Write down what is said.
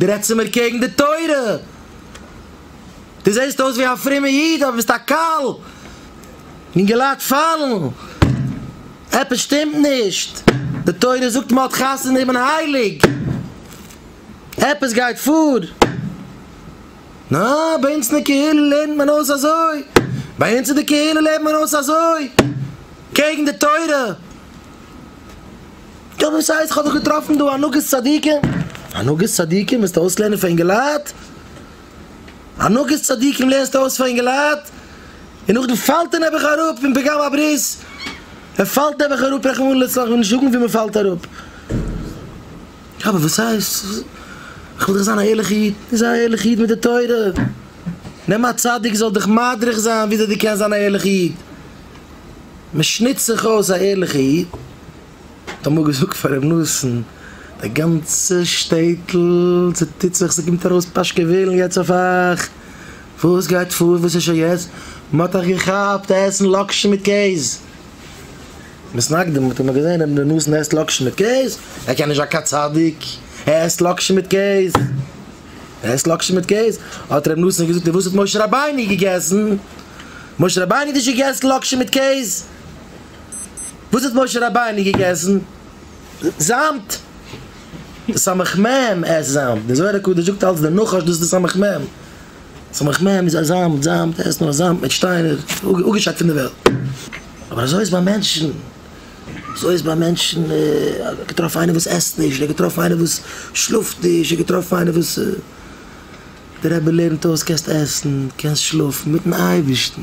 דו רעדסט צו מיר קעגן די תורה? דו זעסט אויס ווי א פרומע איד אבער ביסט א קל! אינגעלייט פאלן! עפעס שטימט נישט! די תורה זאגט מ'האט חתונה און מען הייליג! עפעס גייט פאר! נא! ביי אונז אין די קהילה לערנט מען אויס אזוי! ביי אונז אין די קהילה לערנט מען אויס אזוי! קעגן די תורה! יא וואס הייסט כ'האב דאך געטראפן דא הנהגת צדיקים? הנהגת צדיקים וועסטו אויסלערנען פאר אינגעלייט? הנהגת צדיקים לערנסטו אויס פאר אינגעלייט? און נאכדעם פאלט ער נעבעך אראפ פון פגם הברית, ער פאלט נעבעך אראפ רחמנא לצלן כ'וועל נישט זאגן ווי מ'פאלט אראפ. יא אבער וואס הייסט כ'וויל דאך זיין א ערליכע איד, זיי א ערליכע איד מיט די תורה, נעם א צדיק זאל דיך מדריך זיין וויאזוי דו קענסט זיין א ערליכע איד, מ'שניצט זיך אויס א ערליכע איד. האט אמאל געזאגט פאר ר' נתן, די גאנצע שטעטל צוטוט זיך, ס'קומט ארויס פאשקעווילן יעצט אויף אייך, וואס גייט פאר, וואס איז שוין יעצט, מ'האט אייך געכאפט עסן לאקשן מיט קעז! מ'איז נקדים, האט אמאל געזען ר' נתן עסט לאקשן מיט קעז? ער קען נישט זיין קיין צדיק, ער עסט לאקשן מיט קעז! ער עסט לאקשן מיט קעז! האט ר' נתן געזאגט, און וואס האט משה רבינו געגעסן? משה רבינו האט נישט געגעסן לאקשן מיט קעז! וואס האט משה רבינו געגעסן? זאמד! די סמך מ' עסט זאמד, די זוהר הקדוש זאגט אלץ די נחש דאס איז די סמך מ', סמך מ' איז א זאמד, זאמד עסט נאר זאמד מיט שטיינער, אפגעשאקט פון די וועלט. אבער אזוי איז ביי מענטשן, אזוי איז ביי מענטשן, ער האט געטראפן איינער וואס עסט נישט, ער האט געטראפן איינער וואס שלאפט נישט, ער האט געטראפן איינער וואס, דער רבי לערנט אויס, קענסט עסן, קענסט שלאפן, מיטן אייבערשטן.